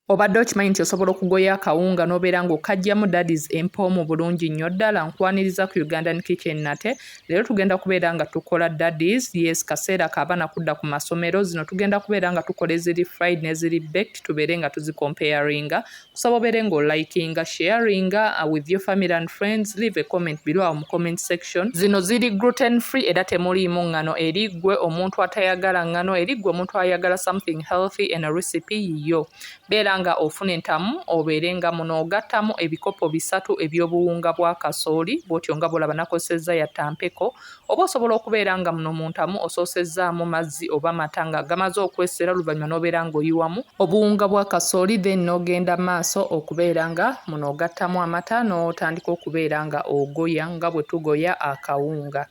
Obadde okimanyi nti osobola okugoya akawunga n'obeera ng'okajjamu dadis empoomu bulungi nnyo ddala nkwaniriza ku Ugandan Kitchen nate leero tugenda kubeera nga tukola dadis yes kaseera ka abaana kudda ku masomero zino tugenda kubeera nga tukola eziri fried n'eziri baked tubeere nga tuzikompeyaringa kusaba obeere ng'olikinga sharinga uh, with your family and friends leave a comment below mu comment section Nutrition. Zino ziri gluten free era temuliimu ngano eri gwe omuntu atayagala ngano eri gwe omuntu ayagala something healthy and a recipe yiyo. Beera nga ofuna entamu obeere nga muno ogattamu ebikopo bisatu eby'obuwunga bwa kasooli bw'otyo nga bw'olaba nakozesezza yatta mpeko oba osobola okubeera nga muno mu ntamu osoosezzaamu mazzi oba mata nga gamaze okwesera oluvannyuma n'obeera ng'oyiwamu obuwunga bwa kasooli then n'ogenda maaso okubeera nga muno ogattamu amata n'otandika okubeera nga ogoya nga bwe tugoya akawunga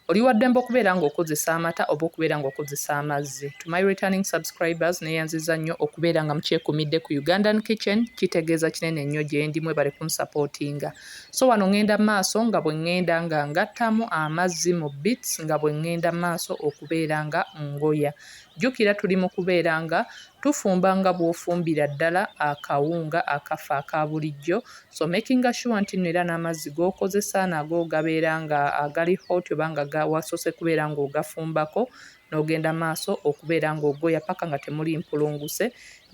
oli waddembe okubeera nga okozesa amata oba okubeera nga okozesa amazzi to my returning subscribers neyanziza nnyo okubeera nga mukyekumidde ku ugandan kitchen kitegeeza kinene nnyo gyendi mwebale kunsapootinga so wano ŋŋenda maaso nga bwe ŋŋenda nga ngattamu amazzi mu bits nga bwe ŋŋenda maaso okubeera nga ngoya Jjukira tuli mu kubeera nga tufumba nga bw'ofumbira ddala akawunga akaffe aka bulijjo, so makinga sure nti nno era n'amazzi g'okozesa nago gabeera nga agali hot oba nga ga wasoose kubeera ng'ogafumbako n'ogenda maaso okubeera ng'ogoya paka nga temuli mpulunguse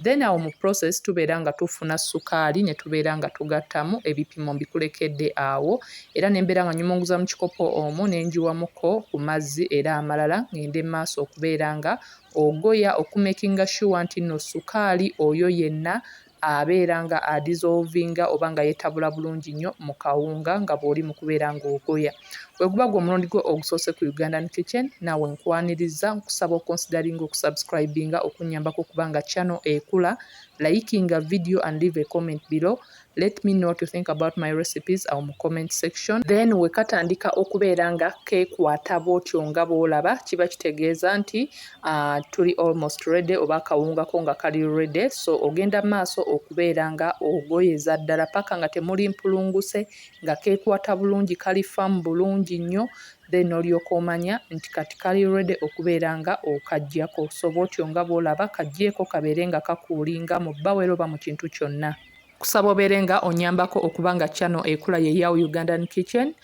Then awo mu process tubeera nga tufuna ssukaali ne tubeera nga tugattamu ebipimo mbikulekedde awo era ne mbeera nga nnyumunguza mu kikopo omwo ne ngiwamuko ku mazzi era amalala ng'ende mu maaso okubeera nga ogoya okumekinga shuwa nti nno ssukaali oyo yenna abeera nga adizolvinga oba nga yetabula bulungi nnyo mu kawunga nga bw'oli mu kubeera ng'ogoya. Bwe guba gwe omulundi gwo ogusoose ku Ugandan Kitchen, naawe nkwanirizza, nkusaba okonsidalinge okusubscribinga okunnyambako okuba nga channel ekula, layikinga video and leave a comment below, let me know what you think about my recipes awo mu comment section, then we katandika okubeera nga kekwata bwotyo nga bwolaba, kiba kitegeeza nti uh, tuli almost ready oba akawunga ko nga kali ready, so ogenda maaso okubeera nga ogoyeza ddala paka nga temuli mpulunguse, nga kekwata bulungi kali firm bulungi nnyo then olyoka omanya nti kati kali ready okubeera nga okajjako so bwotyo nga bwolaba kajjeeko kabeere nga kakuulinga mu bbawel oba mu kintu kyonna. Nkusaba obeere nga onyambako okuba nga channel ekula ye Yao Ugandan Kitchen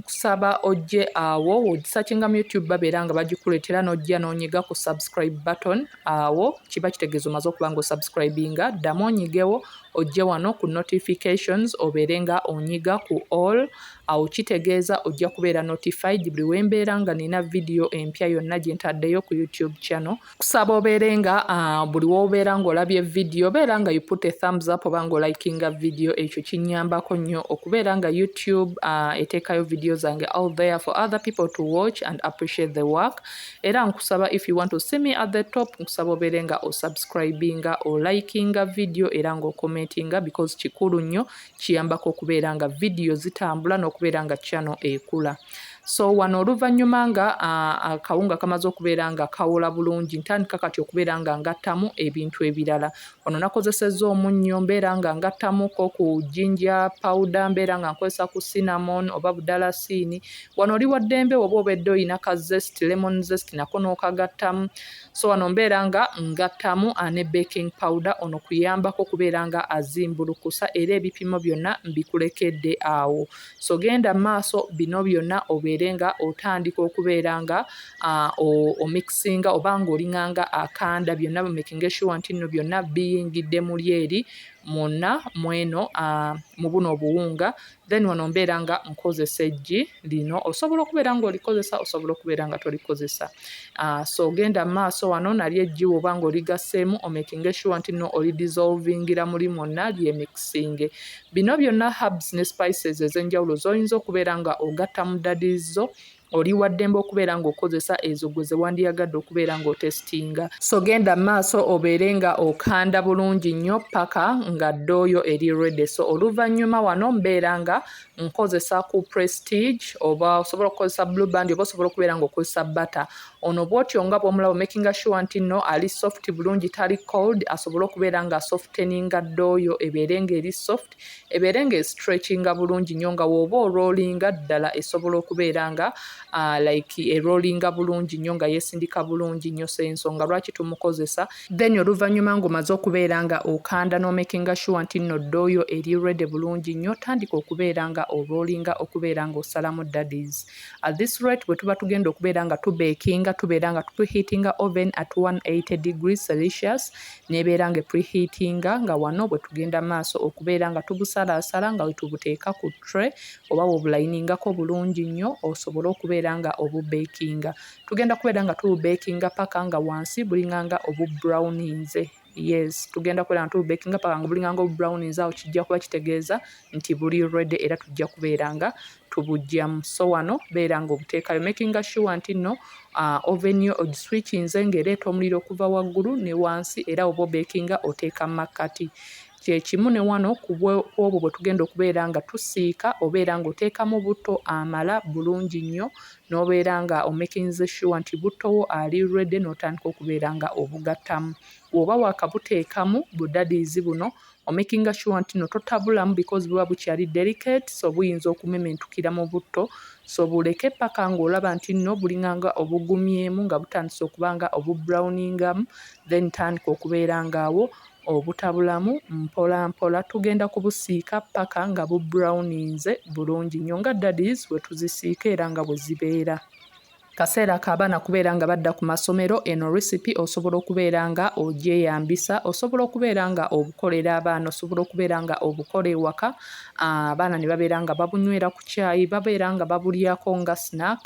nkusaba ojje awo wogisachinga mu youtube babeera nga bagikuletera nojja nonyiga ku subscribe button awo kiba kitegeeza omaze okuba nga osubscribinga ddamu onyigewo ojje wano ku notifications obeere nga onyiga ku all awo kitegeeza ojja kubeera notified buli wembeera nga nina vidiyo empya yonna gye ntaddeyo ku youtube channel kusaba obeere nga ah, buli wobeera ng'olabye vidiyo beera nga you put a thumbs up oba ng'olikinga vidiyo ekyo kinyambako nnyo okubeera nga youtube ah, eteekayo vidiyo zange out there for other people to watch and appreciate the work era nkusaba if you want to see me at the top nkusaba obeere nga osubscribinga olikinga video era nga okomentinga because kikulu nnyo kiyambako okubeera nga video zitambula n'okubeera nga channel ekula so wano oluvannyuma nga akawunga kamaze okubeera nga kawola bulungi ntandika kati okubeera nga ngattamu ebintu ebirala ono nakozesezza omunnyo mbeera nga ngattamuko ku jinja pawuda mbeera nga nkozesa ku cinnamon oba budalasiini Wano oli wa ddembe oba obedde olina ka zest lemon zest nako n'okagattamu so wano mbeera nga ngattamu ane baking powder ono kuyambako kubeera nga azimbulukusa era ebipimo byonna mbikulekedde awo so genda maaso bino byonna obeere nga otandika okubeera nga omikisinga oba nga olinganga akanda byonna bumekinga shuwa nti nno byonna biyingidde muli eri mwonna mweno mu buno obuwunga Then wano mbeera nga nkozesa eggi lino osobola okubeera nga olikozesa osobola okubeera nga tolikozesa uh, so ogenda maaso wano nalyo eggi woba nga oligaseemu omakinge sure nti no olidissolvingira muli mwonna lyemixinge bino byonna herbs ne spices ezenjawulo zoyinza okubeera nga ogatta mu dadizo Oli wa ddembe okubeera ng'okozesa ezo gwe ze wandiyagadde okubeera ng'otesitinga. So genda mu maaso obeere nga okanda bulungi nnyo ppaka nga ddooyo eri ready. So oluvannyuma wano mbeera nga nkozesa ku Prestige oba osobola okukozesa Blue Band oba osobola okubeera ng'okozesa butter. Ono bw'otyo nga bw'omulaba makinga sure nti nno ali soft bulungi tali cold asobole okubeera nga softeninga ddooyo ebeere ng'eri soft. ebeere nga estretchinga bulungi nnyo nga wooba oroolinga ddala esobola okubeera nga uh, like eroolinga bulungi nnyo nga yesindika bulungi nnyo so ensonga lwaki tumukozesa then oluvannyuma ng'omaze okubeera nga okanda n'omakinga sure nti nno ddooyo eri rede bulungi nnyo tandika okubeera nga oroolinga okubeera nga osalamu daddies at this rate bwe tuba tugenda okubeera nga tubeekinga tubeera nga tutuhiitinga oven at 180 degrees celsius n'ebeera nga epreheatinga nga wano bwe tugenda maaso okubeera nga tubusalaasala nga we tubuteeka ku tray oba w'obulayiningako bulungi nnyo osobole okubeera nga obubeekinga. Tugenda kubeera nga tububeekinga paka nga wansi bulinganga obubrawuninze. Yes, tugenda kubeera nga tububeekinga paka nga bulinganga obubrawuninze, awo kijja kuba kitegeeza nti buli ready era tujja kubeera nga tubujjamu so wano beera nga obuteekayo making sure nti nno uh, oven yo ogiswikinze ng'ereeta omuliro okuva waggulu ne wansi era oba obekinga oteeka mu makkati kyekimu ne wano kwobwo bwe tugenda okubeera nga tusiika obeera ng'oteekamu butto amala bulungi nnyo n'obeera nga omekinze sure nti buttowo ali rwedde n'otandika okubeera nga obugattamu woba wakabuteekamu budadiizi buno omakinga sure nti no totabulamu because buba bukyali delicate so buyinza okumementukira mu butto so buleke paka ng'olaba nti nno bulinga nga obugumyemu nga butandise okuba nga obubrowningamu then tandika okubeera ng'awo obutabulamu mpola mpola tugenda kubusiika paka nga bubrowninze bulungi nnyo nga dadis wetuzisiika era nga bwe zibeera. Kaseera ka baana kubeera nga badda ku masomero, eno recipe osobola okubeera nga ogyeyambisa, osobola okubeera nga obukolera abaana, osobola okubeera nga obukola ewaka, abaana ne babeera nga babunywera ku kyayi, babeera nga babulyako nga snack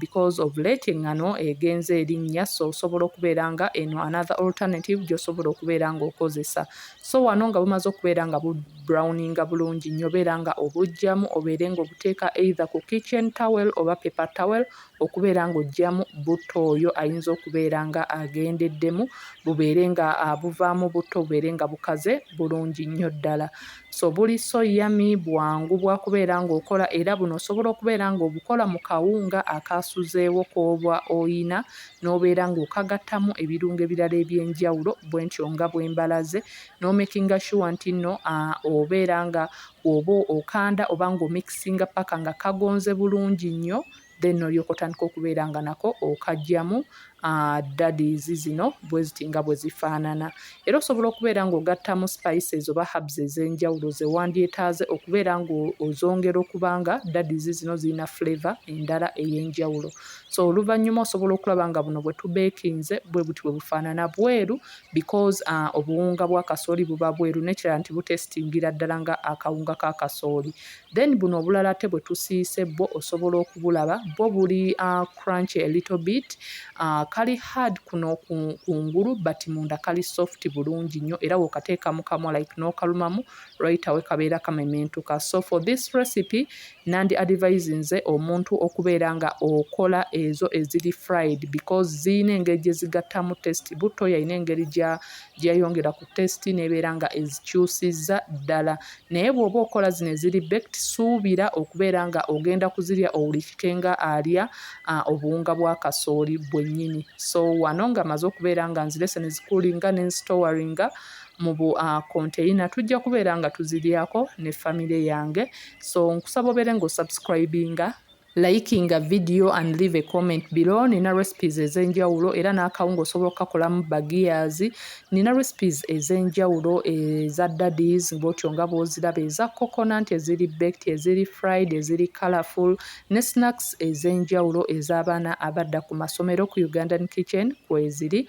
because of late engano egenze erinnya, so osobola okubeera nga eno another alternative gy'osobola okubeera nga okozesa. So wano nga bumaze okubeera nga bu browninga bulungi nyobo era nga obujjamu obeere nga obuteeka either ku kitchen towel oba paper towel okubeera nga ojjamu butto oyo ayinza okubeera nga agendeddemu bubeere nga buvaamu butto bubeere nga bukaze bulungi nnyo ddala so buli so yami bwangu bwakubeera nga okola era buno osobola okubeera nga obukola mu kawunga akaasuzeewo kooba oyina n'obeera nga okagattamu ebirungo ebirala ebyenjawulo bwentyo nga bwembalaze nomakinga sure nti nno obeera nga oba okanda oba nga omikisinga paka nga kagonze bulungi nnyo then nolyoka otandika okubeera nga nako okajjamu daddies zino bweziti nga bwe zifaanana era osobola okubeera ng'ogattamu spices oba hubs ez'enjawulo ze wandyetaaze okubeera ng'ozongera okuba nga daddies zino zirina flavor endala ey'enjawulo so oluvannyuma osobola okulaba nga buno bwe tubeekinze bwe buti bwe bufaanana bweru because uh, obuwunga bwa kasooli buba bweru nekirala nti butestingira ddala nga akawunga ka kasooli then buno obulala ate bwe tusiise bwo osobola okubulaba bwo buli uh, crunch a little bit uh, kali hard kuno kungulu but munda kali soft bulungi nnyo era wokateeka mu kamwa like n'okalumamu right awe kabeera kamementuka so for this recipe Nandi advisinze omuntu okubeera nga okola ezo eziri fried because ziyina engeri gyezigattamu test butto yayina engeri gyeyayongera ku test nebeera nga ezikyusiza ddala naye bwoba okola zino eziri bekt suubira okubeera nga ogenda kuzirya owulikike nga alya obuwunga bwa kasooli bwennyini so wano nga maze okubeera nga nzirese nezikulinga nensitowaringa mu bu container tujja kubeera nga tuzilyako ne family yange so nkusaba obeere nga osubscribinga likinga video and leave a comment below nina recipes ezenjawulo era n'akawunga osobola okukakolamu bagears nina recipes ezenjawulo eza daddies bwotyo nga bwoziraba eza coconut eziri baked eziri fried eziri colorful ne snacks ezenjawulo ez'abaana abadda ku masomero ku ugandan kitchen kweziri